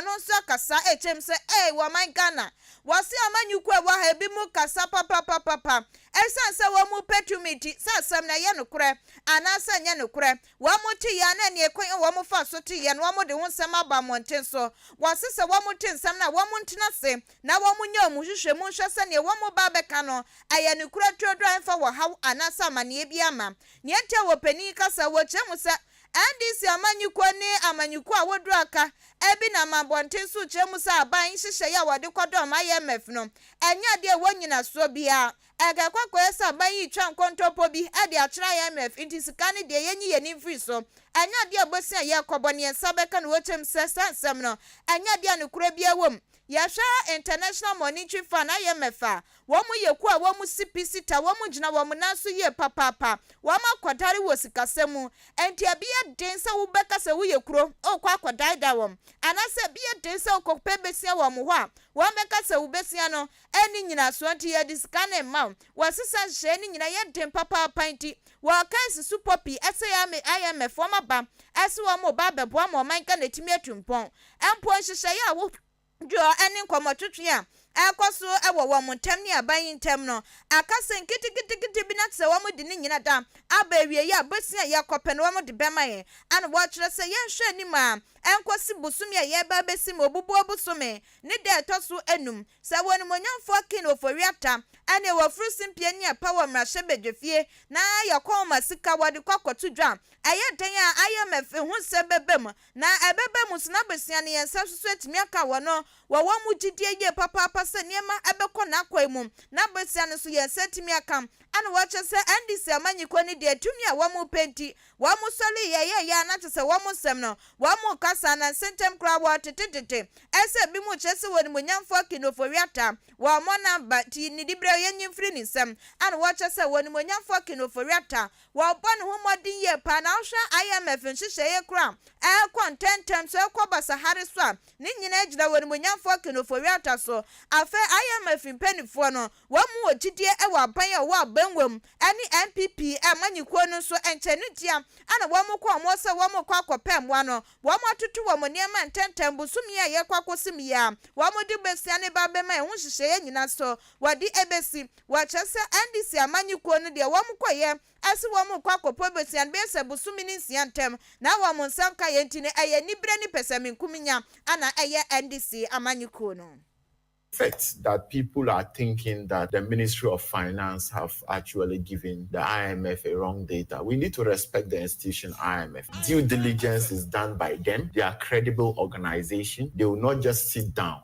Ɔno nso akasa ɛkyerɛ mu sɛ ei wɔman Ghana wɔse ɔma nyuku a ɛwɔ ha ebi mu kasa papapapapa ɛsiane sɛ wɔn mu pɛ tumi nti sɛ asɛm no ɛyɛ nokorɛ anaa sɛ ɛnyɛ nokorɛ wɔn te yɛn na ɛneɛ kwan a wɔn fa so te yɛn wɔn de ho nsɛm aba mmɔnten so wɔse sɛ wɔn te nsɛm no a wɔn ntena ase na wɔn nyɛ wɔn nhwehwɛ mu nhwɛ sɛ neɛ wɔn ba abɛka no ɛyɛ nokorɛ turodoo a ɛmfa wɔhaw anaa sɛ amaneɛ biara ma neɛ nti a wɔ panin kasa wɔ kyerɛ mu sɛ NDC amanyɔkuo ne amanyɔkuo a wɔduru aka bi nam abɔnten so rekyerɛ mu sɛ aban nhyehyɛeɛ a wɔde kɔdɔm IMF no nyɛ adeɛ a ɛwɔ nnyinasoɔ biara. Ɛka kɔkɔeɛ sɛ aban yi retwa nkontompo bi de akyerɛ IMF nti sika no deɛ yɛnyi yɛn ani mfiri so. Ɛnyɛ adeɛ a ɛbɔ sin a yɛrekɔbɔ ne yɛn nsa bɛka na wɔkyerɛ mu sɛ saa nsɛm no nyɛ adeɛ a nokorɛ biara wɔ mu Yɛhwɛ International Monitoring Fund, IMF, a, wɔn yɛ kuo a wɔn si pi si ta, wɔn gyina wɔn nan so yie papaapa, wɔn akɔdare wɔ sikasɛm mu, ɛnti ɛbeyɛ den sɛ wo bɛka sɛ wo yɛ kuro ɔɔkɔ akɔdaadaa wɔn, anaasɛ ɛbeyɛ den sɛ ɔkɔ pɛ bɛsua wɔn hɔ a, wɔn bɛka sɛ wo bɛsua no ɛnni nyinasoɔ nti yɛde sika no mma wo, wɔ sesa nhyehyɛeɛ no nyina yɛ den papaapa nti, wɔ case supɔ pii ɛsɛ yɛ IMF wɔn aba ɛse wɔn reba abɛboa ma ɔman Ghana atumi atu mpɔn, Mpo nhyehyɛe a wohwɛ dwoɔ ne nkɔmmɔtwetwe a ɛkɔ so wɔ wɔn ntam ne aban yi ntam no, aka sɛ nketenkete bi na te sɛ wɔde ne nyina da aba awieeɛ a bosea a yɛkɔpɛ no wɔde bɛma yɛn ana wɔkyerɛ sɛ yɛnhwɛ anim a ɛnkɔsi bosome a yɛreba abɛsi mu obubuo bosome ne da a ɛtɔ so anum sɛ wɔ animuonyamfoɔ Ken Ofori-Atta ne wɔ Furusing Piania pa wɔ mmarahyɛbadwafie na yɛkɔn ma sika wɔde kɔ akɔto dwa a ɛyɛ dɛn a IMF hu sɛ bɛba mu Na ɛbɛba mu sɛ n'abusua ne yɛn nsa nso so atumi aka wɔn no wɔ wɔn mu gyidie yie papaapa sɛ nneɛma bɛkɔ n'akwan mu. N'abusua no nso yɛn nsa atumi aka na wɔakyerɛ sɛ NDC amanyikɔ no deɛ tumi a wɔn pɛ nti wɔn sɔre yɛyɛɛyɛ a na kyerɛ sɛ wɔn nsɛm no wɔn nka saa na nse ntɛm koraa wɔtetetete ɛsɛ binom kyerɛ sɛ onimuonyamfoɔ King Ofori-Atta wɔmmɔ n'aba nti ne diberɛ yɛnyi mfiri ne nsam na wɔkyerɛ sɛ onimuonyamfoɔ King Ofori-Atta Wɔbɔ ne ho mmɔden yie paa na wohwɛ IMF nhyehyɛeɛ koraa a ɛrekɔ ntɛmntɛm so ɛrekɔ basahare so a, ne nyinaa gyina wɔ animuonyamfoɔ Ken Ofori-Atta so. Afei IMF mpaninfoɔ no, wɔn mu wɔ gyidie wɔ aban a ɔwɔ abangua mu ɛne NPP amanyikuo no nso nkyɛ no ntia a na wɔn kɔ wɔn sɛ wɔn rekɔ akɔpɛ mmoa no, wɔn atoto wɔn nneɛma ntɛmntɛm bosome yi a yɛrekɔ akɔsim yi ara wɔn de bɛsia ne ba bɛma ɛho nhyehyɛeɛ nyinaa so wɔde ɛbɛsi. Wɔakyerɛ sɛ NDC amanyɛ kuo no deɛ wɔn kɔ yɛ ɛse wɔn rekɔ akɔpɔ bosian bɛyɛ sɛ bosome ne nsia ntɛm na wɔn nsa nka yɛ nti no ɛyɛ anibere ne pɛsɛmenkominya na ɛyɛ NDC amanyɛ kuo no. fact that people are thinking that the ministry of finance have actually given the IMF a wrong data we need to respect the institution IMF due diligence is done by them they are credible organisation they will not just sit down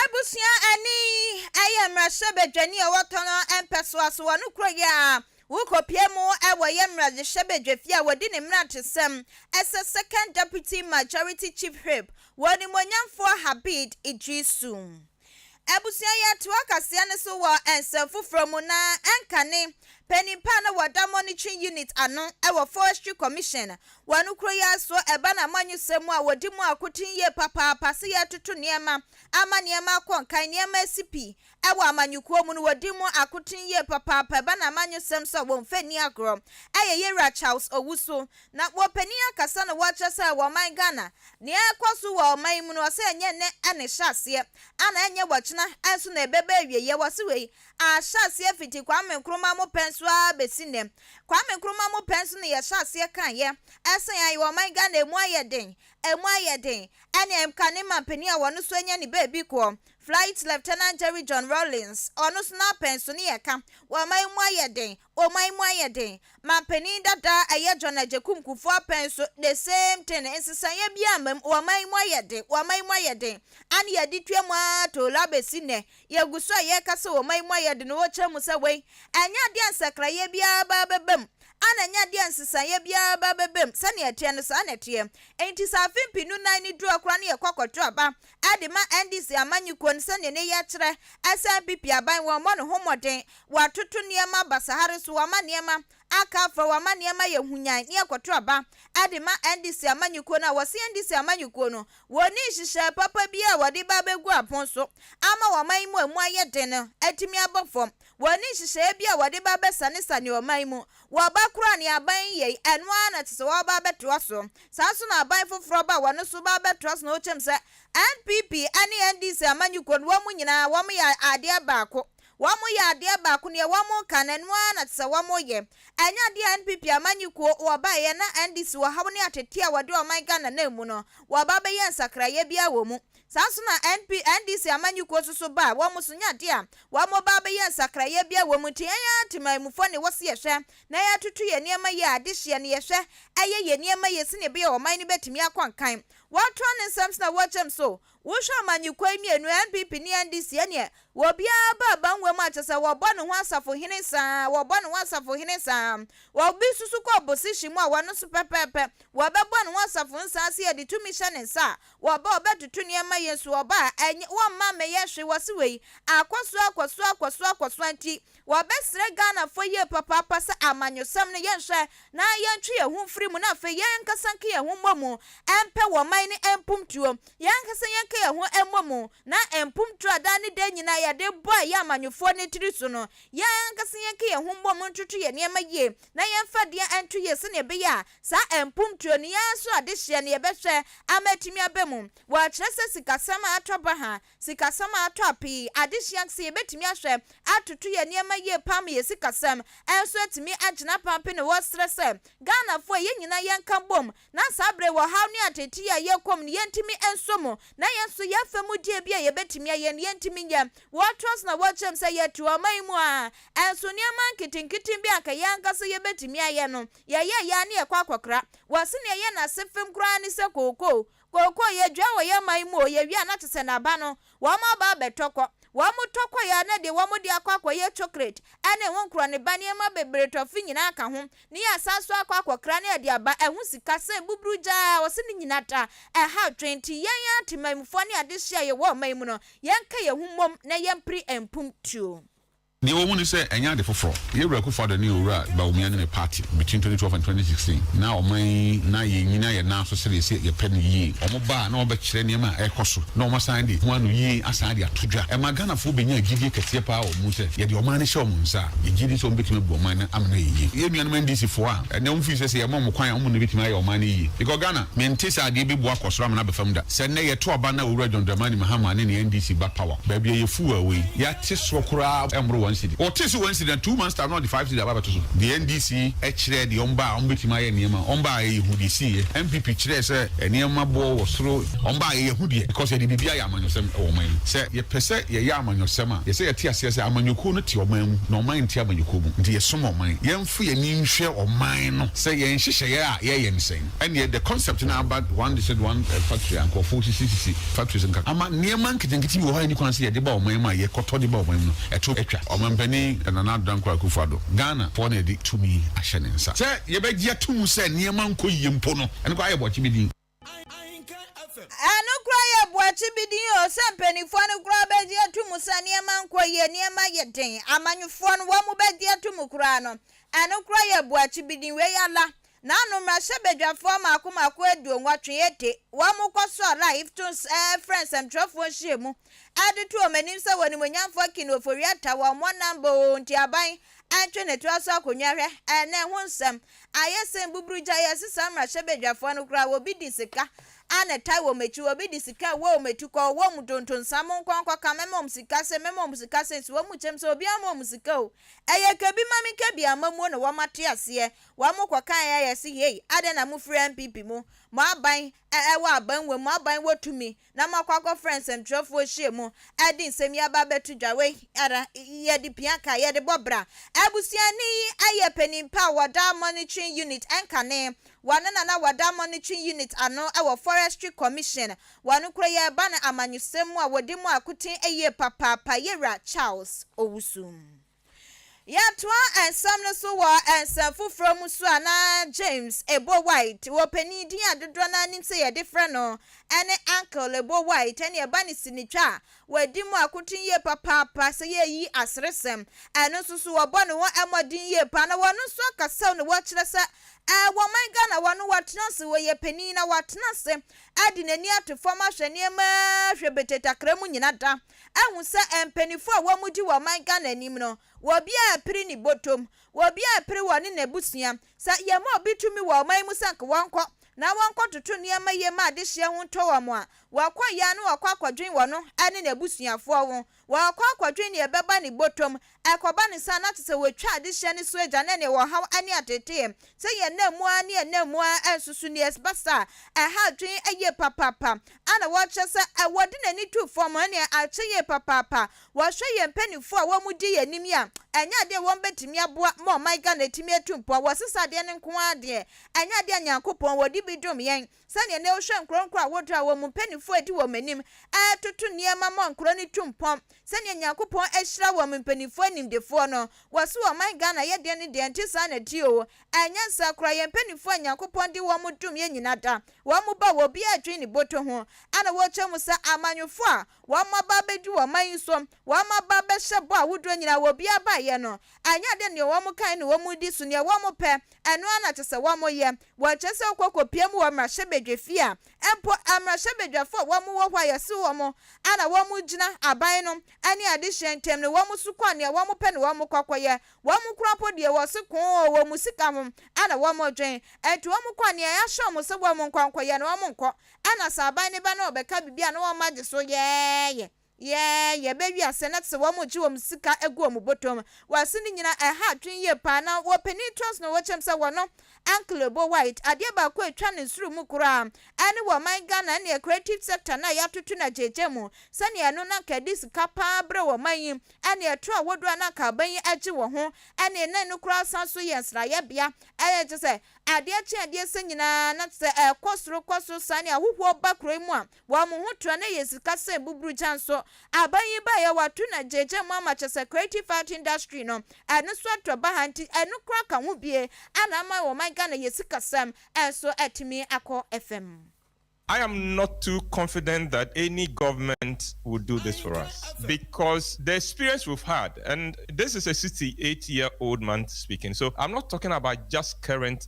Abusua ani yɛ mmarahyɛbadwani a ɔwɔ tɔnɔ mpɛsoa so wɔ ne kuro yi a wokɔpue mu wɔ yɛ mmarahyɛbadwafie a wɔdi ne mmerantesɛm sɛ Second Deputy Majority Chief Whip wɔ Onimuonyamfoɔ Habid Idrisu Abusua yi atoa kaseɛ no so wɔ nsɛm foforɔ mu na ɛnkane panin pa a na wɔda Monitoring Unit ano wɔ Forestry Commission wɔ no kuro yi ara so ɛba no amanyɔsɛm mu a wɔdi mu akoten yie papaapa sɛ yɛretoto nneɛma ama nneɛma akɔ nkan, nneɛma asi pi wɔ amanyɔkuo mu no wɔdi mu akoten yie papaapa ɛba no amanyɔsɛm so a wɔmfa nni agorɔ ɛyɛ Yɛwura Charles Owusu Na wɔpanin akasa na wɔkyerɛ sɛ wɔ ɔman Ghana nea ɛrekɔ so wɔ ɔman yi mu no ɔsɛ ɛnyɛ nnɛ na ɛhyɛ aseɛ ana ɛnyɛ wɔ kyena nso na ɛbɛba awieɛ wɔse wei ahyɛ aseɛ fiti Kwame Nkrumah mo pɛ nso ara bɛsi nnɛ Kwame Nkrumah mo pɛ nso na yɛhyɛ aseɛ kaeɛ ɛse ae wɔ ɔman Ghana ɛmu ayɛ den ɛmu ayɛ den ɛne mka ne manpanin a wɔno nso anya ne baabi koɔ Flight Lieutenant Jerry John Rawlings ɔno nso n'apɛnso ne yɛka wɔ ɔman yi mu ayɛ den Ɔman mu ayɛ den ma panin dada a ɛyɛ John Agyekum Kufuor apɛn so the same thing nsesaeɛ biara mma mu ɔman mu ayɛ den ɔman mu ayɛ den ane yɛde tua mu ara tolɔ abɛsi nnɛ yɛgu so a yɛreka sɛ ɔman mu ayɛ den wɔkyerɛ mu sɛ wei ɛnyɛ adeɛ a nsakraeɛ biara baa bɛba mu ana ɛnyɛ adeɛ a nsesaeɛ biara baa bɛba mu sɛdeɛ ɛteɛ no saa na ɛteɛ enti sɛ afe mpenu nan no duru a koraa no yɛkɔ akɔto aba de ma NDC amanyɛ kuon sɛdeɛ ne yɛ kyerɛ, ɛsan PP aban wɔmmɔ ne ho mmɔden, wɔatoto nneɛma basaha reso wɔama nneɛma aka afra wɔama nneɛma yɛ hunyan ne ɛkɔto aba de ma NDC amanyɛ kuo no a wɔse NDC amanyɛ kuo no wɔnni nhyehyɛɛ papa biara a wɔde ba abɛgu apon so ama wɔn ɔman mu a ɛmu ayɛ den no atumi abɔ fam wɔnni nhyehyɛɛ biara a wɔde ba abɛsanesane ɔman mu Wɔba koro a nea aban yi yɛe, ɛno ara na ɛte sɛ wɔreba abɛtoa so. Saa ara nso na aban foforɔ ba a wɔn nso ba abɛtoa so na wɔkyɛm sɛ NPP ne NDC amanyɔkuo no, wɔn nyinaa wɔyɛ adeɛ baako. Wɔyɛ adeɛ baako, deɛ wɔreka no, ɛno ara na ɛte sɛ wɔyɛ. Ɛnyɛ adeɛ a NPP amanyɔkuo wɔbaeɛ na NDC ɔhaw ne ateteɛ a wɔde ɔman Ghana nam mu no, wɔba abɛyɛ nsakraeɛ biara wɔ mu. Saa nso na NP, NDC amanyɔkuo so so ba a wɔn so nya adeɛ a wɔn ba abɛyɛ nsakraeɛ biara wɔ mu nti yɛn ara temanmufoɔ na ɛwɔ sɛ yɛhwɛ na yɛtoto yɛn nneɛma yie a adehyeɛ no yɛhwɛ yɛ yɛn nneɛma yie sɛdeɛ ɛbɛyɛ a ɔman no bɛtumi akɔ nkan. Wɔtoa ne nsɛm so na wɔkyerɛ mu so, Wohwɛ amanyɔkuo yi mmienu, NPP ne NDC, ɛneɛ obiara ba aba nwura mu a kyerɛ sɛ wɔbɔ ne ho asafohene saa, wɔbɔ ne ho asafohene saa. Obi susu kɔ opposition mu a ɔno nso pɛpɛɛpɛ wɔbɛbɔ ne ho asafohene saa sɛ yɛde tumi hyɛ ne nsa a Wɔba ɔbɛ tutu neɛma yɛ nso ɔba a ɛnyɛ wɔ mma mɛyɛ hwe wɔse wei akɔsoɔ akɔsoɔ akɔsoɔ akɔsoɔ nti wɔbɛ srɛ Ghana foɔ yie papaapa sɛ amanyɔsɛm no yɛn hwɛ na yɛn twe yɛn ho mfiri mu na afei yɛn ankasa nka yɛn ho mmɔ mu ɛmpɛ wɔ man no ɛmpum tuo yɛn ankasa yɛn ka yɛn ho ɛmmɔ mu na ɛmpum tuo a daa ne daa nyinaa yɛde bɔ ɛyɛ amanyɔfoɔ no tiri so no yɛn ankasa yɛn ka yɛn ho mmɔ mu ntoto yɛn neɛma yie na yɛn fa deɛ ɛnto yie sɛdeɛ ɛbɛyɛ a Saa mponturo no yi ara so adehyeɛ no yɛbɛhwɛ ama atumi aba mu. Wɔkyerɛ sɛ sikasɛm a atɔ baha, sikasɛm a atɔ ape yi, adehyeɛ kɛseɛ, yɛbɛtumi ahwɛ atoto yɛn nneɛma yie paa ma yɛn sikasɛm nso atumi agyina paa pɛ na wɔsrɛ sɛ Ghanafoɔ yɛn nyinaa yɛnka bom na saa berɛ yi ɔhaw ne ateetee a yɛkɔ mu no yɛntumi nso mu na yɛn nso yɛmfa mu deɛ bi a yɛbɛtumi ayɛ no yɛntumi nyɛ. Wɔtoa so na wɔkyerɛ mu sɛ yɛte ɔman mu a nso nneɛma nketenkete bi a anka yɛn ankasa yɛbɛtumi ayɛ no, Yɛyɛ yɛ a ne yɛkɔ akɔkra. Wɔse nea ɛyɛ n'ase fem koraa ne sɛ kookoo. Kookoo, yɛdua wɔ yɛn man mu o, yɛwie a na kyesɛ n'aba no wɔn aba abɛtɔ kɔ. Wɔn tɔ kɔe a na deɛ wɔn de akɔ akɔyɛ chocolate ɛne ho nkorɔneba nneɛma bebree tɔfe nyinaa ka ho. Ne yɛasan so akɔ akɔkra ne ɛde aba. Ɛho sika sɛ buburu gyaa a wɔse ne nyina ta ɛhaw twe. Nti yɛn ara temanmufoɔ ne adehye a yɛwɔ ɔman mu no yɛnka yɛn ho mmom na yɛmpere mpuntuo. Deɛ ɛwɔ mu ne sɛ, ɛnyɛ ade foforɔ. Yoweri Akufo-Addo ne Owura Bawumia ne ne party between twenty twelve and twenty sixteen na ɔman yi na yɛnyina yɛn nan so sɛdeɛ ɛsɛ yɛpɛ no yie. Wɔn ba a na wɔbɛkyerɛ nneɛma a ɛrekɔ so na wɔasan de ho ano yie asan de ato dwa. Ɛma Ghanafoɔ bɛnyaa gyidie kɛseɛ paa wɔ wɔn mu sɛ yɛde ɔman no hyɛ wɔn nsa a, yɛgye di sɛ wɔbɛtumi abu ɔman no ama no ayɛ yie. Yɛn nuanom NDC foɔ a, ɛnnɛ wɔn feel sɛ sɛ yɛma wɔn kwan a, wɔn na ɛbɛtumi ayɛ ɔman no yie. Because Ghana, mente sɛ adeɛ bɛbu akɔ soro ama no aba fam da. Sɛ nnɛ yɛto aba na Owura John Dramani Mahama ne ne NDC ba power, baabi a yɛfuw a wei, yɛ. te soɔ koraa ɛmmoro one cedi. Wɔtee sɛ one cedi na two months time na wɔde five cedi aba abɛto so. Deɛ NDC kyerɛɛ deɛ wɔn baa a wɔbɛtumi ayɛ nneɛma, wɔn baa a ɛyɛ hu deɛ ɛsiiɛ. NPP kyerɛɛ sɛ nneɛma boɔ wɔ soro. Wɔn baa a ɛyɛ hu deɛ because yɛde biribiara yɛ amanyɔsɛm wɔ ɔman yi mu. Sɛ yɛpɛ sɛ yɛyɛ amanyɔsɛm a, yɛsɛ yɛte aseɛ sɛ amanyɔkuo no te ɔman mu na ɔman nte amanyɔkuo mu. Nti yɛsom ɔman. Yɛmfo yɛn ani nhwɛ ɔman no sɛ yɛn nhyehyɛeɛ a yɛyɛ no sɛn. Ɛneɛ the concept no aba one de sɛ de one factory a nkorɔfoɔ sisisisi factories nka ama nneɛma nketenkete bi wɔ hɔ a ɛnni kwan sɛ yɛde ba ɔman mu a yɛkɔtɔ de ba ɔman mu no ɛto atwa. Ɔmanpanin Nana Addo Dankwa Akufo Addo, Ghana foɔ na ɛde tumi ahyɛ ne nsa sɛ yɛbɛgye ato mu sɛ nneɛma nkɔ yie mpo no ɛno koraa yɛ boakye bi din. Ɛno koraa yɛ boakye bi din o sɛ mpaninfoɔ no koraa bɛgye ato mu sɛ nneɛma nkɔ yie, nneɛma yɛ den, amanyɔfoɔ no wɔn bɛgye ato mu koraa no ɛno koraa yɛ boakye bi din. Wei ala Na no mmarahyɛbadwafoɔ mmaako mmaako aduonwɔtwe de wɔn kɔsoaa La Iftune's frɛ nsɛmtwerɛfoɔ nhyiamu de too wɔn anim sɛ Onimuonyamfoɔ King Ofori-Atta wɔ mmɔnnan boo nti aban antwe ne toa so akonnwa hwɛ na ɛho nsɛm ayɛ sɛ mbuburugya yi ɛse saa mmarahyɛbadwafoɔ no koraa wɔbi di sika a na ɛtae wɔn akyi wɔbi di sika a ɛwɔ wɔn ati kɔ ɔwɔ wɔn donto nsa mo nkɔ nkɔka mɛma wɔn sika se mɛma wɔn sika se nso wɔn kyɛm sɛ obiara mma wɔn sika o ɛyɛ ka bi ma me ka bi ammamuo na wɔate aseɛ Wɔn kɔkaeɛ a yɛse hei adɛn na mofiri NPP mu, mo aban wɔ aban wɔ mu, mo aban wɔ tumi na moakɔ akɔfrɛ nsɛmtwerɛfoɔ hyia mu de nsɛm yi aba abɛto dwa, wei ara yɛde pia ka, yɛde bɔ bra. Abusuani yi yɛ panin pa wɔ Dam Monitoring Unit, ɛnkane wɔno na na wɔ Dam Monitoring Unit ano wɔ Forestry Commission, wɔno koro yɛreba no amanyɔsɛm mu a wɔdi mu akoten yie papaapa, Yɛwura Charles Owusu. Yɛatoa nsɛm no so wɔ nsɛm foforɔ mu nso a, na James Ebo White wɔ panin din a dodoɔ no ara nim sɛ yɛde frɛ no ne Uncle Ebo White ɛne ɛba ne sinitwa a wadi mu akoten yie papaapa sɛ yɛreyi aseresɛm ɛno nso so wɔbɔ ne ho mmɔden yie paa na wɔno nso akasam na wɔkyerɛ sɛ ɛɛ wɔ man Ghana wɔno watena ase wɔyɛ panin na watena ase de n'ani ato fam ahwɛ nneɛma hwebetee takra mu nyina da. ahu sɛ mpanyinfoɔ a wɔn di wɔ ɔman Ghana anim no wɔ obi a ɛpere ne bɔtɔm, wɔ obi a ɛpere wɔ ne n'abusua. Sɛ yɛ ma obi tumi wɔ ɔman mu sɛ nka wɔn kɔ na wɔn kɔ toto nneɛma yie ma adehyeɛ ho ntɔ wɔn a, wɔ kɔ yɛ a na wɔ kɔ akɔdwen wɔ no ne n'abusuafoɔ ho, wɔ kɔ akɔdwen deɛ ɛbɛba ne bɔtɔm Ɛkɔba no saa a, na kyerɛ sɛ wɔatwa adehyeɛ no so agya na ɛnna ɛwɔ ɔhaw ne ateeteeɛ. Sɛ yɛn nna mu ara ne yɛn nna mu ara nso so nie. Ɛba saa a, ɛha adwene yie papaapa. A na wɔkyerɛ sɛ wɔde n'ani to fam ne akyɛ yie papaapa. Wɔhwɛ yɛn mpanimfoɔ a wɔdi yɛn anim yi a, ɛnyɛ adeɛ a wɔbɛtumi aboa ma ɔman Ghana atumi atu mpɔn. Wɔsesa adeɛ no nko ara deɛ, ɛnyɛ adeɛ a Nyankopɔn ɔde bi dom yɛn. Sɛnea nnɛ wohwɛ nkorɔnkoro a wodra wɔn mu mpanyimfo a edi wɔn anim retoto nneɛma ma nkurow no tu mpɔn, sɛnea Nyankopɔn ahyira wɔn mpanyimfo animdefoɔ no, wɔse ɔman Ghana yɛ deɛn ne deɛn, ɛnte saa na di oo, ɛyɛ nyansa koraa, yɛn mpanyimfoɔ a Nyankopɔn de wɔn dom yɛn nyina da, wɔn mu ba wɔ obiara adwene ne boto ho, ɛna wɔkyɛ mu sɛ amanyɔfoɔ a wɔn aba abɛdi wɔ ɔman yi so, wɔn aba abɛhyɛ bɔ ahodoɔ nyina a obiara baeɛ no, ɛnyɛ adeɛ nea wɔn kan ne wɔn di so, nea wɔn pɛ, ɛno ara na kyesɛ wɔn yɛ. Wɔkyerɛ sɛ ɔkɔ kɔpia mu wɔ mmarahyɛbadwafie a mpo mmarahyɛbadwafoɔ a wɔn wɔ hɔ a yɛse wɔn a na wɔn gyina aban no ne adehyeɛ ntam no wɔn so kɔ nea wɔn pɛ na wɔn kɔ kɔyɛ. Wɔn kora mpo deɛ wɔse koo oo wɔn sika ho na wɔn dwen nti wɔn kɔ nea yɛahyɛ wɔn sɛ wɔn nkɔ nkɔyɛ no wɔn nkɔ ɛna sɛ aban no ba na ɔbɛka biribi a na wɔn agye so yɛɛyɛ. Yɛ yɛ bɛ wiase no te wɔn gye wɔn sika gu wɔn botom wɔse ne nyina ɛha adwen yie paa na wɔ panin trust no wɔkyɛm sɛ wɔno uncle obo white adeɛ baako a ɛtwa ne soro mu koraa ɛne wɔ ɔman Ghana ɛneɛ creative sector no a yɛatoto no agyegya mu sɛneɛ ɛno no anka ɛde sika paa brɛ wɔ ɔman yi ɛne ɛtorɔ ahodoɔ a na anka aban yi agye wɔ ho ɛne na ɛno koraa san so yɛ nsrayɛ bea ɛyɛ kyɛ sɛ adeɛ kye adeɛ sɛ nyinaa na kyɛ sɛ ɛkɔ soro kɔ soro saa ne ahohoɔ ba kuro yi mu a Wa mo ho tra na yɛ sika sɛn buburugya nso aban yi baeɛ wa to na gyegye mo ama kyɛsɛ creative art industry no ɛno so atɔ baha nti ɛno koraa ka ho bie ana ama wɔ ɔman Ghana yɛ sika sɛm nso atumi akɔ fam. I am not too confident that any government will do this for us because the experience we've had and this is a 68 year old man speaking so I'm not talking about just current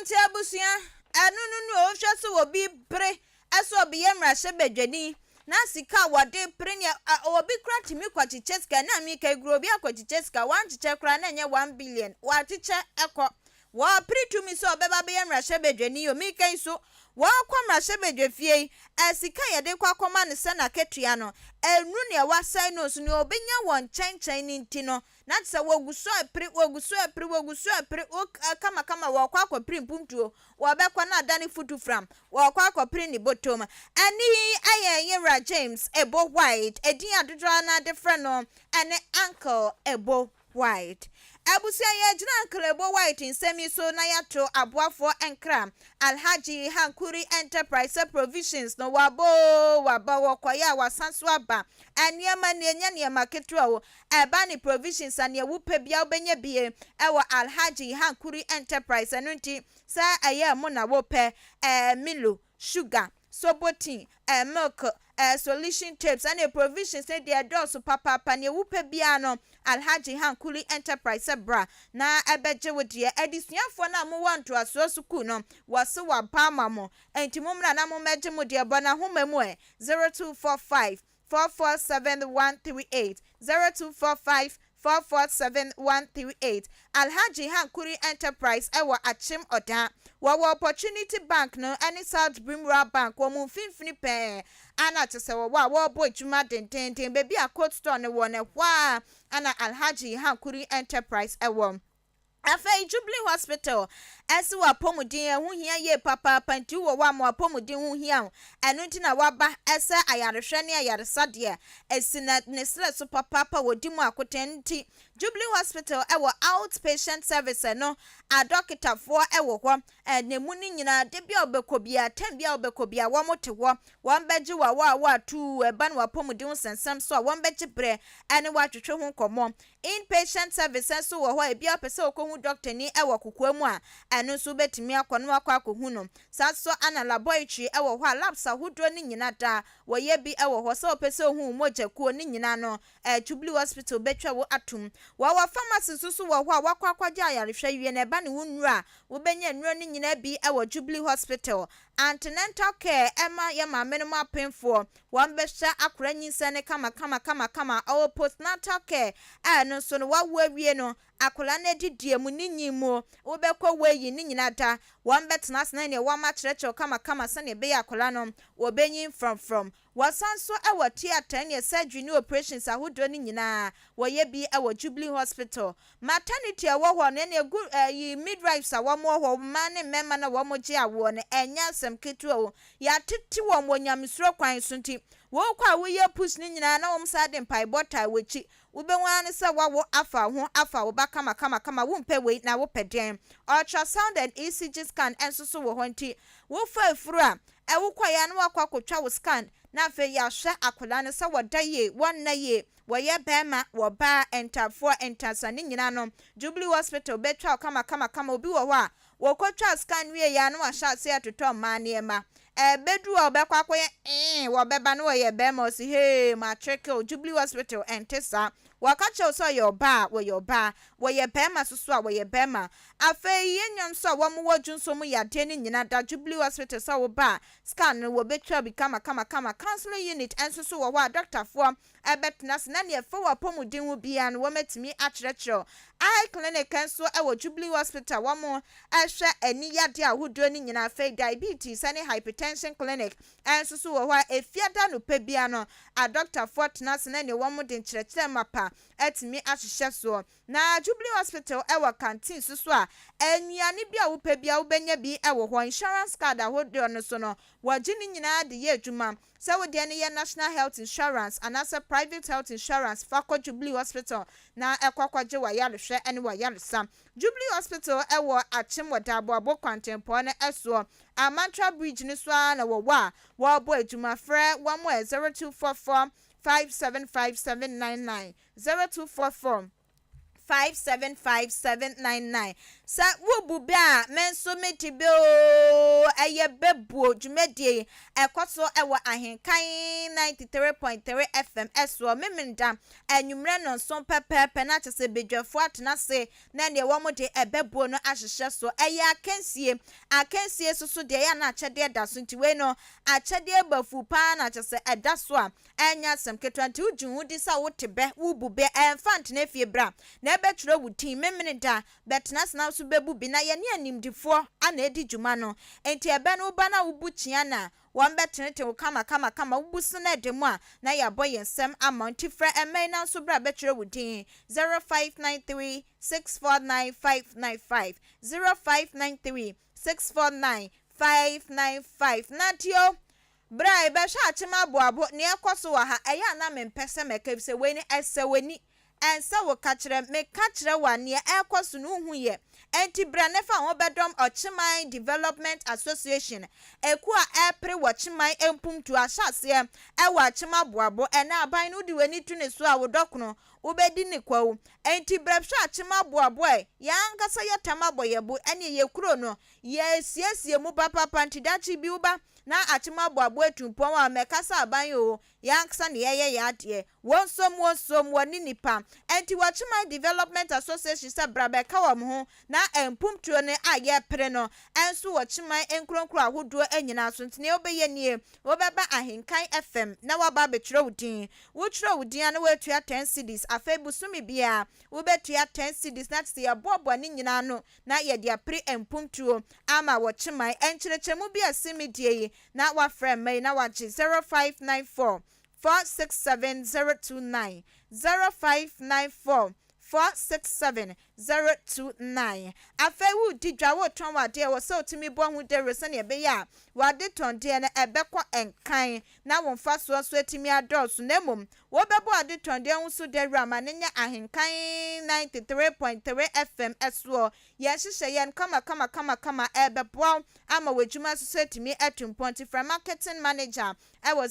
Ntsi ebusua, ɛno no no wohwɛ sɛ obi pere sɛ ɔbeyɛ mmarahyɛbadwani na sika a wɔde pere nea obi koraa tumi kɔkyekyɛ sika na meka yi koraa obi akɔkyekyɛ sika wankyekyɛ koraa na ɛnyɛ one billion wakyekyɛ kɔ wɔpere tumi sɛ ɔbɛba bɛyɛ mmarahyɛbadwani o meka yi so wɔkɔ mmarahyɛbadwafie yi sika yɛde kɔ akɔma no sɛ n'akatua no ɛnu nea wasɛe no so nea obenya wɔ nkyɛnkyɛn no nti no na te sɛ wɔgu so repere, wɔgu so repere, wɔgu so repere, wo kamakama wɔrekɔ akɔpere mpuntuo, wɔbɛkɔ na adane futufram, wɔrekɔ akɔpere ne bɔtɔ mu. Ɛnne yi yɛ Yewura James Ebo White, edin a dodoɔ ara no ara de frɛ no ne Uncle Ebo White. Abusua yi agyina Uncle Ebo White nsɛm yi so na yɛato aboafoɔ nkra, Alhaji Hankuri Enterprise Provisions no, waba oo, waba, wɔkɔeɛ a wasan so aba, nneɛma nie, ɛnyɛ nneɛma ketewa oo. ɛba ne provisions a nea wopɛ biara wobɛnya bi wɔ Alhaji Hankuri Enterprise ɛno nti sɛ ɛyɛ ɛmo na wopɛ eh, Milo, sugar, sobo tea, eh, milk, eh, solution tapes ɛne provisions no deɛ ɛdɔɔso papaapa nea wopɛ biara no Alhaji Hankuri Enterprise sɛ bra na ɛbɛgye wo deɛ Adesuafoɔ no a mowɔ ntoasoɔ sukuu no wɔse wɔaba ama mo ɛnti mommra na mommɛgye mo deɛ bɔ n'ahoma mu eh, zero two four five four four seven one three eight, zero two four five four four seven one three eight, Alhaji Hankuri Enterprise wɔ Akyem Oda. Wɔwɔ Opportunity Bank no ne South Brim Rural Bank wɔn mfimfini pɛɛ a na kyɛ sɛ wɔwɔ a wɔrebɔ adwuma dendeenden. Baabi a Cold Store no wɔ no, ɛhɔ ara na Alhaji Hankuri Enterprise wɔ. Afei Jubilee Hospital ɛse w'apɔmuden ɛho hia yie papaapa nti wowɔ hɔ a ma w'apɔmuden ho hia wo ɛno nti na waba ɛsɛ ayarehwɛ ne ayaresa deɛ ɛsi na ne serɛ so papaapa wɔ di mu akoten ɛno nti Jubilee Hospital ɛwɔ out patient service ɛno adɔketafoɔ ɛwɔ hɔ na ɛmu no nyinaa da bia wobɛkɔ bia time bia wobɛkɔ bia wɔn te hɔ wɔn bɛgye w'awɔ a woatuu ɛba ne w'apɔmuden ho sɛnsɛm so a wɔn bɛgye berɛ ɛne wo atwetwe ho nkɔmmɔ In-patient service nso wɔ hɔ a ebia wopɛ sɛ wokɔhu dɔktani wɔ kokoa mu a, ɛno nso wobɛtumi akɔ na woakɔ akɔhu no. Saa nso ara na laboratory wɔ hɔ a labs ahodoɔ no nyina da wɔyɛ bi wɔ hɔ. Sɛ wopɛ sɛ wohu wo mogya kuo no nyina no, Jubilee Hospital bɛtwa wo atom. Wɔwɔ pharmacy nso so wɔ hɔ a woakɔ akɔgye ayarehwɛ wie no ɛba ne wo nnuro a wobɛnya nnuro no nyina bi wɔ Jubilee Hospital. Antenatal care ma yɛ maamenom apemfoɔ. Wɔbɛhyɛ akora nyinsɛn no kamakama kamakama ɔwɔ postnatal care a ɛno nso no wawo awie no akora no adidie mu ne nyin mu wobɛkɔ weighing ne nyina da wɔbɛtena ase na neɛ wɔn akyerɛkyerɛw kamakama sɛdeɛ ɛbɛyɛ akora no wɔbɛnyin frɔmfrɔm wɔsan nso wɔ theatre neɛ surgery ne operations ahodoɔ no nyinaa wɔyɛ bi wɔ Jubilee Hospital Maternity a ɛwɔ hɔ no ɛna ɛgu ɛyi midwives a wɔn wɔ hɔ mmaa ne mmarima no a wɔn gye awoɔ no ɛnyɛ asɛm ketewa o yɛatete wɔn wɔ nyamesuro kwan so nti wokɔ a woyɛ pus no nyinaa na wɔn san de mpaebɔ taa wakyi wobɛhu ara ne sɛ wawo afa wo ho afa wo ba kama kama kama wompɛ wei na wopɛ deɛn ultrasound and ECG scan nso so wɔ hɔ nti wofa afuru a ɛwokɔeɛ a na wakɔ akɔtwa wo scan na afei yɛahwɛ akwadaa no sɛ wɔda yie wɔnna yie Wɔyɛ bɛɛma wɔ baa, ntafoɔ, ntasa ne nyina no Jubilee hospital bɛtwa wo kamakamakama obi wɔ hɔ a wɔkɔtwa scan wieɛ a na wahyɛ aseɛ retotɔ mmaa nneɛma ɛbɛduru a ɔbɛkɔ akɔyɛ ee wɔbɛba na wɔyɛ bɛɛma ɔse hee matreke o Jubilee hospital ɛnte saa wɔka kyerɛ wo sɛ ɔyɛ ɔbaa a wɔyɛ ɔbaa wɔyɛ bɛɛma soso a wɔyɛ bɛɛma afei yɛ nnuam nso a wɔn wɔ dwonsɔ mu yadeɛ ne nyina da Jubilee hospital sɛ wo ba a scan no wɔbɛtwa bi kamakamakama counseling unit nso so wɔ hɔ a dɔktafoɔ ɛbɛtena ase, na nea ɛfa wo apɔmuden ho biara no, wɔatumi akyerɛkyerɛ wo. Eye Clinic nso wɔ Jubilee Hospital, wɔhwɛ ani yadeɛ ahodoɔ no nyinaa. Afei Diabetes ne Hypertension Clinic nso so wɔ hɔ a, Efiada anɔpa biara no, adɔkotafoɔ tena ase na nea wɔde nkyerɛkyerɛ mapa atumi ahyehyɛ soɔ. Na Jubilee Hospital wɔ canteen nso so a, nnuane biara a wopɛ biara wobɛnya bi wɔ hɔ. Insurance card ahodoɔ no nso no, wɔgye ne nyinaa de yɛ adwuma. Sɛ wo deɛ no yɛ National Health Insurance anaasɛ Private Health Insurance fa kɔ Jubilee Hospital na kɔ kɔgye w'ayarehwɛ ne w'ayaresa. Jubilee Hospital wɔ Akyem wɔ Daaboabo kwantempɔn no soɔ. Amantra Bridge no so ara na wɔwɔ a wɔrebɔ adwuma. Frɛ wɔn ɛ 0244 575 799, 0244. 575799 Sɛ wo bu bɛ a, me nso me di bɛ oo Ɛyɛ Bɛbuo dwumadie yi ɛkɔ so wɔ Ahenkan 93.3 FM soɔ Memeneda anwummerɛ nnɔnson pɛpɛɛpɛ na kyɛ sɛ badwafoɔ atena ase na neɛ wɔn de bɛbuo no ahyehyɛ so Ɛyɛ akansie akansie soso deɛ ɛyɛ a na akyɛdeɛ da so nti wei no akyɛdeɛ bɔ afu paa na kyɛ sɛ ɛda so a ɛnyɛ asɛm ketewa nti wogye wo di sɛ wote bɛ, wobu bɛ, ɛmfa ntena efie bra na ɛbɛtwerɛ wo din, memene da, bɛtena ase na wo nso bɛbu bi, na yɛne animdefoɔ na ɛdi dwuma no nti ɛbɛ no woba no a wobu kyea no a, wɔbɛtenetene wo kamakamakama, wobu so no ɛda mu a, na yɛabɔ yɛn nsam ama wo nti frɛ ɛmma yi na wo nso bra bɛtwerɛ wo din, zero five nine three six four nine five nine five, zero five nine three six four nine five nine five, Nate o, Bere a yɛbɛhwɛ akyem aboabo nea ɛrekɔ so wɔ ha, ɛyɛ a na mempɛ sɛ mɛka efisɛ wei no ɛsɛ w'ani, ɛnsɛ wo ka kyerɛ me. Meka kyerɛ wo a, nea ɛrekɔ so no wuhu yɛ. Enti bra na fa wo ho bɛdɔm Ɔkyeman Development Association, ekuo a ɛrepere wɔ Kyeman mpuntuo ahyɛaseɛ wɔ akyem aboabo. Ɛnnɛ aban no wode w'ani to ne so a, wo dɔkono, wobɛdi ne kwawu. Enti bra hwɛ akyem aboabo a yɛn ankasa yɛtam abɔ yɛn bo, ɛne yɛn kuro no, yɛresiesie mu papapa nti daakye bi wo ba na akyem aboaboa atirimpɔn a mɛkasa aban o, yɛn ankasa na yɛyɛ yɛn adeɛ, wonsom wonsom wɔne nipa, ɛnti wɔkyeman development association sɛ bra bɛka wɔn ho, na mpumptuo no a yɛpere no nso wɔ kyeman nkuronkuro ahodoɔ nyinaa so, nti nea wobɛyɛ nie, wobɛba ahenkan FM na waba abɛtwerɛ wo din, wotwerɛ wo din a na woatua ten cedis, afei bosome biara wobɛtua ten cedis na kyesɛ yɛboaboa ne nyinaa ano na yɛde apere mpuntuo ama wɔ Kyemae nkyerɛkyerɛmu bi a Simi deɛ yi na wafrɛ mma yi na wagye 0594 467 029, 0594 467 029. Afei woredi dwa, woretɔn w'adeɛ a, ɛwɔ sɛ wotumi bɔ ho dawuro sɛdeɛ ɛbɛyɛ a w'adetɔndeɛ no ɛbɛkɔ nkan na wo mfasoɔ nso atumi adɔɔso na mmom Wobɛbɔ adetɔn de ahu so dawura ma no nyɛ ahenkan 93.3 FM soɔ. Yɛn nhyehyɛ yɛn kamakamakamakama ɛrebɛboa wo ama w'adwuma nso so atumi atu mpɔn nti frɛ marketing manager ɛwɔ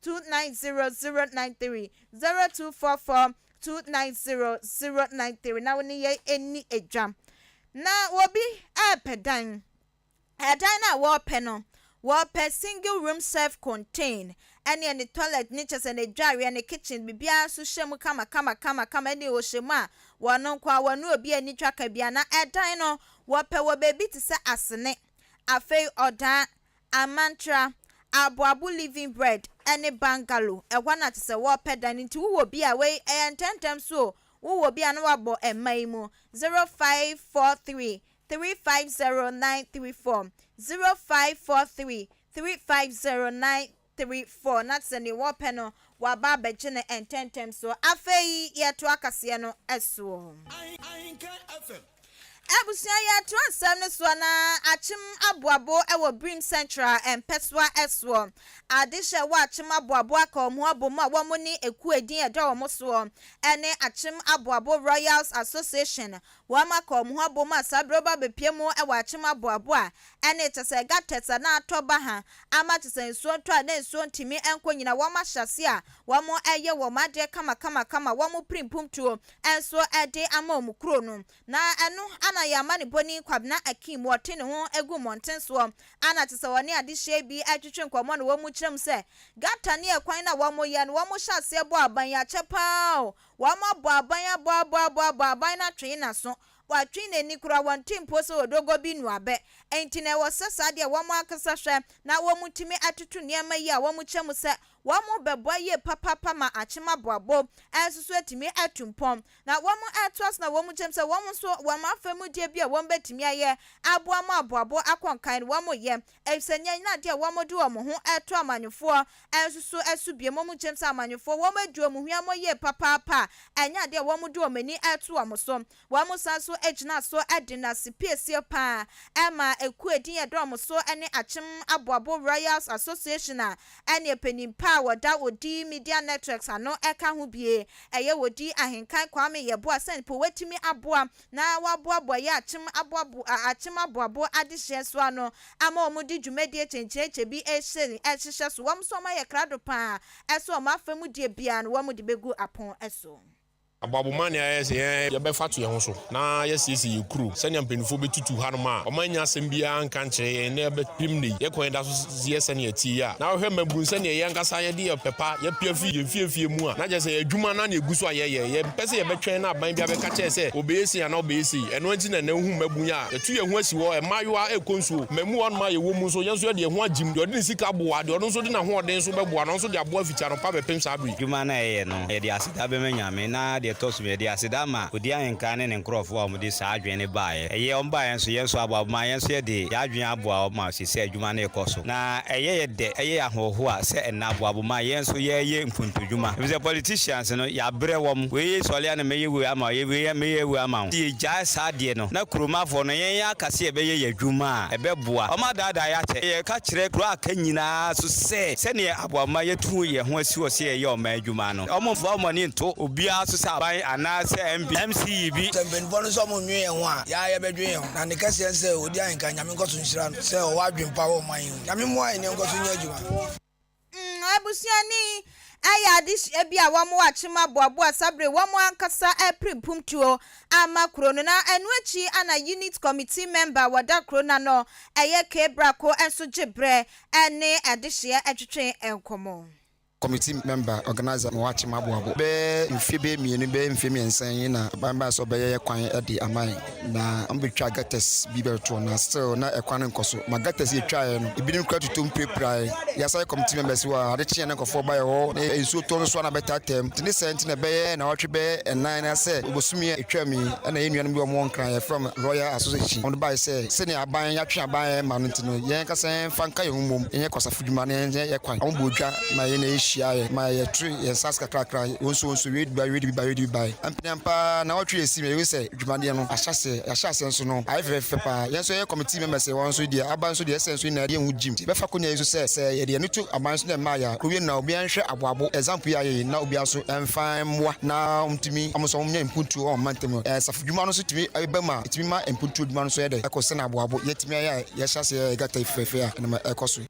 0244290093, 0244290093 na wo ne yɛn ɛnni ɛdwa. Na obi ɛrepɛ dan. Ɛdan no a wɔrepɛ no, wɔrepɛ single room self contained ɛneɛ ne toilet no kyerɛ sɛ n'adwareɛ ne kitchen biribiara nso hyɛ mu kama kama kama kama ɛneɛ wɔhyɛ mu a wɔn nko ara wɔne obi ani twa ka biara na ɛdan no wɔpɛ wɔ baabi te sɛ Asene, afei Odaa, Amantra, Aboabo living bread ɛne bungalow ɛhɔ na kyerɛ sɛ wɔrepɛ dan no nti wowɔ bi a wei ɛyɛ ntɛntɛm so o wowɔ bi a na wabɔ mma yi mu zero five four three three five zero nine three four, zero five four three three five zero nine three four, na sɛ nea wɔpɛ no waba abɛgye no ntɛmntɛm so. Afei yɛtoa kaseɛ no soɔ. Abusua yɛtoa nsɛm no soɔ na Akyem Aboabo wɔ Birim Central mpɛsoa soɔ. Ade hyɛ wɔ Akyem Aboabo aka wɔn abom a wɔne ekuo a edin ɛda wɔn soɔ ne Akyem Aboabo Royals Association Wɔma kɔɔ wɔn ho abom ma saa bere ba bepia mu wɔ akyem aboabo a ɛne kyɛ sɛ gutters anaa atɔ ba ha ama kyɛ sɛ nsuo ntɔ a na nsuo ntumi nkɔ nyina wɔn ahyɛ aseɛ a wɔn yɛ wɔn adeɛ kamakamakama wɔn piri mpomtuo nso de ama wɔn kuro no na ɛno ana yɛ amanebɔni Kwabena Akim ɔte ne ho gu mmɔnten soɔ ana kyɛ sɛ ɔne adehyeɛ bi retwetwe nkɔmmɔ na wɔn kyerɛ mu sɛ gutter ne ɛkwan no a wɔn yɛ no wɔn hyɛ aseɛ bɔ aban akyɛ paa o Wɔabɔ aban, abɔ, abɔ, abɔ, abɔ aban no atwee n'aso, wɔatwee n'ani koraa, wɔnte mpo sɛ odogo bi nu abɛ. Enti na ɛwɔ sɛ saa deɛ wɔn ankasa hwɛ na wɔtumi atoto nneɛma yi a wɔkyɛ mu sɛ wɔbɛboa yie papaapa ma akyem aboabo nso so atumi atu mpɔn. Na wɔatoa so na wɔkyɛ mu sɛ wɔn nso wɔn afa mu deɛ bi a wɔbɛtumi ayɛ aboa ma aboabo akɔ nkan no wɔyɛ. Efisɛ nea nna de a wɔde wɔn ho reto amanyɔfoɔ nso so so bio, mmom gyem sɛ amanyɔfoɔ wɔadi wɔn huammɔ yie papaapa a, ɛnyɛ adeɛ a wɔde wɔn ani reto wɔn so. Wɔsan nso gyinaa so de nna sipiesie pa ara maa ekuo a edin yɛ dɛ wɔn so ne Akyem Aboabo Royals Association a ɛne panin pa a wɔda Odi Media Networks ano ka ho bue. Ɛyɛ Odi Ahenkan Kwame Yeboah sɛ mpo watumi aboa na wɔaboaboa yi akyem aboabo a akyem aboabo adehyeɛ so ano ama wɔn de dwumadie kyenkyerekyɛ bi rehyɛ rehyehyɛ so. Wɔn nso wɔn ayɛ krado pa ara ɛsɛ wɔn afa mu deɛ biara no wɔn de bɛgu apon so. Aboabo ma nea yɛyɛ sɛ yɛn yɛbɛfa to yɛn ho so na yɛasiesie yɛn kuro sɛnea mpaninfoɔ bɛtutu hanom a wɔannya asɛm biara anka ankyerɛ yɛn na yɛbɛpem nnɛ yi yɛn kɔn da so dze yɛ sɛnea ɛtse yi a, na wohwɛ ma ibohu sɛnea yɛn ankasa yɛde yɛn ɔpɛ pa yɛapia fi yɛn mfeefee mu a, na kyerɛ sɛ yɛn adwuma no ara na egu so a yɛyɛ. Yɛmpɛ sɛ yɛbɛtwɛn na aban bi abɛka kyerɛ yɛn sɛ ɔbɛyɛ sei anaa ɔbɛyɛ sei. Ɛno nti na nnɛ wohu mmabun yi a yɛto yɛn ho asi hɔ, mmaayewa rekɔ nsuo, mmamu hɔnom a yɛwɔ mu nso, yɛn nso yɛde yɛn ho agyem, deɛ ɔde ne sika boa, deɛ ɔno nso de n'ahoɔden nso bɛboa na ɔno nso de aboa fiti anɔpa bɛpem saa bere yi. Adwuma no a yɛyɛ no, yɛde aseda bɛma Nyame, na deɛ ɛtɔ so mmienu, yɛde aseda ma Odi Ahenkan ne ne nkurɔfoɔ a wɔde saa adwene no baeɛ. Ɛyɛ wɔn baeɛ nso, yɛn nso aboa wɔn ma yɛn nso yɛde yɛn adwene aboa wɔn ma. te sɛ adwuma no rekɔ so. Na ɛyɛ yɛ dɛ, ɛyɛ yɛ ahohoa sɛ ɛnna aboabo ma yɛn nso yɛreyɛ nkuntudwuma, efisɛ politicians no, yɛabrɛ wɔn. Wei yɛ sɔle a na mɛyɛ wei ama wo, yɛ wei a mɛyɛ wei ama wo. Sɛ yɛgyae saa adeɛ no, na kuromafoɔ no, yɛn yɛaka sɛ yɛbɛyɛ yɛn adwuma a, ɛbɛboa. Wɔadaadaa yɛn akyɛ. Yɛka kyerɛ kuro a aka nyinaa nso sɛ, sɛdeɛ aboabo ma yɛatu yɛn ho asi hɔ sɛ yɛyɛ ɔman adwuma no, wɔmmfa wɔn ani nto obiara so sɛ aban anaasɛ MP, MCE bi. Sɛ mpanimfoɔ no nso wɔnnwen yɛn ho a, yɛn ara yɛbɛdwen yɛn ho. Na ne kɛseɛ ne sɛ ɔdi ahenka. Nyame nkɔ so nhyira no sɛ ɔwɔ adwene pa wɔ ɔman yi ho. Nyame mmoa yɛn na yɛnkɔ so nyɛ adwuma. Mm, abusua ni ayɛ adehyia bi a wɔn akyem aboaboa sabere wɔn ankasa pere pumtuo ama kuro no na ɛno akyi ana unit committee member wɔda kuro no ano ɛyɛ K Brako nso gye berɛ ne adehyeɛ twetwe nkɔmɔ. Kɔmiti mɛmba, ɔganaiza, ma wɔakyem aboabo bɛ mfe bɛyɛ mmienu, bɛyɛ mfe mmiɛnsa yi na ban baa sɛ ɔbɛyɛ yɛ kwan de ama yɛn na ɔmbɛtwaa gutters bi bɛtoɔ na still na ɛkwan no nkɔ so ma gutters yɛtwaeɛ no ebinom koraa tutuom pirapiraeɛ yɛ asan yɛ kɔmiti mɛmbɛs wɔ ade kyeeɛ na nkɔfoɔ baeɛ hɔ ne nsuo tɔ nso a na bɛtaataa mu nti ne saa nti na ɛbɛyɛ nawɔtwe bɛyɛ ɛnan anaasɛ bosome a ɛtwaam yi ɛna yɛn nuanom bi a wɔwɔ Nkran a yɛfrɛ wɔn Royal Association wɔde baeɛ sɛ sɛnea aban yɛatwe aban ɛmma no nti no yɛn ankasa yɛmfa nka yɛn ho mmom yɛnyɛ kwasafo. dwuma no yɛn yɛn kwan. Wɔn bɔɔ dwa ma yɛn na yɛhyia yɛ ma yɛtwe yɛn nsa ase kakrakra. Wɔn nso wɔn nso yɛdi ba yɛdi ba yɛdi bae. Mprɛn paa naawɔtwe asi ma yɛhu sɛ dwumadeɛ no ahyɛ aseɛ. Yɛahyɛ aseɛ nso no ayɛ fɛfɛɛfɛ paa. Yɛn nso yɛyɛ committee members yɛ wɔn nso deɛ aba nso deɛ ɛsɛ nso nyinaa yɛde yɛn ho gyim. Nti yɛbɛfa akonya yi nso sɛ sɛ yɛde yɛn ani to aban nso na ɛmmaeɛ a kɔwie no na obiara nhwɛ aboabo example yi a yɛyɛ na obiara nso mfa mmoa na wɔn tumi wɔn nso wɔn nya mpuntuo wɔ wɔn mantam no. Asafo dwuma no nso tumi ba mu a ɛtumi ma mpuntuo dwuma no nso yɛ dɛ ɛkɔ sɛnea aboabo yɛtumi ayɛ a Yɛhyɛ ase yɛ gata fɛfɛɛfɛ a ɛnam ɛkɔ so yi.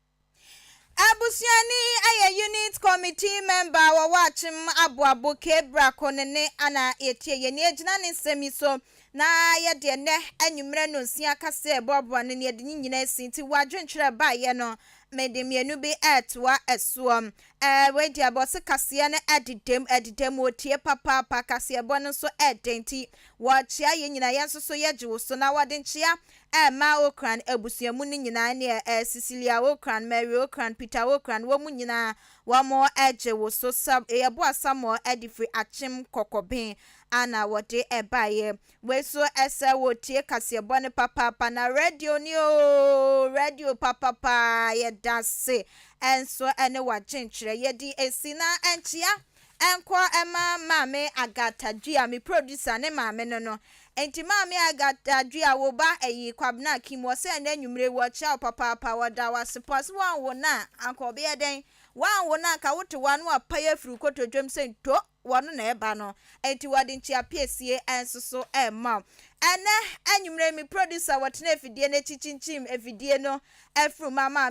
Abusuani ayɛ unit committee member wɔ Wakyem aboabo Cape Brako ne ne ana yɛtie yɛn nie gyina ne nsɛm yi so na yɛde ɛnɛ anwummerɛ nonsia kaseɛ boaboa no na yɛde ne nyina asi nti w'adwenkyerɛ baeɛ no mede mmienu bi ɛɛtoa ɛsoɔ ɛɛ wei deɛ bɔ se kaseɛ no ɛdedam ɛdedam ɔtie papaapa kaseɛbɔ no nso ɛɛdɛ nti wɔkyea yɛn nyina yɛn nso so yɛgye wo so na wɔde nkyea a ɛmaa Ocran abusua mu no nyinaa ne ɛ, Cecilia Ocran, Mary Ocran, Peter Ocran, wɔn nyinaa, wɔgye wo so sɛ yɛboa Samuel de firi akyem kɔkɔben a na wɔde baeɛ. Wei nso sɛ wɔretie kaseɛbɔ no papaapa, na radio ni oo, radio papapaa, yɛda ase nso ne w'akyenkyerɛ, yɛde asi na ɛnkyea. ɛnkɔ mma Maame Agatha Dua, me producer, ne maame no no. Enti Maame Agatha Dua, wo ba ɛyi, Kwabena Akim, wɔ sɛ nnɛ anwummere yi wɔkyia wo papaapa, wɔda wo ase paa. Sɛ woanwo no a, anka ɔbɛyɛ dɛn? Woanwo no a, anka wote hɔ ara na wapae afiri wo kotodwam sɛ nto, wɔno na ɛreba no. Enti wɔde nkyeapiesie nso so rema wo. Ɛnnɛ anwummere yi, me producer, wɔtena afidie no akyi kyinkyim afidie no afiri ma Maame.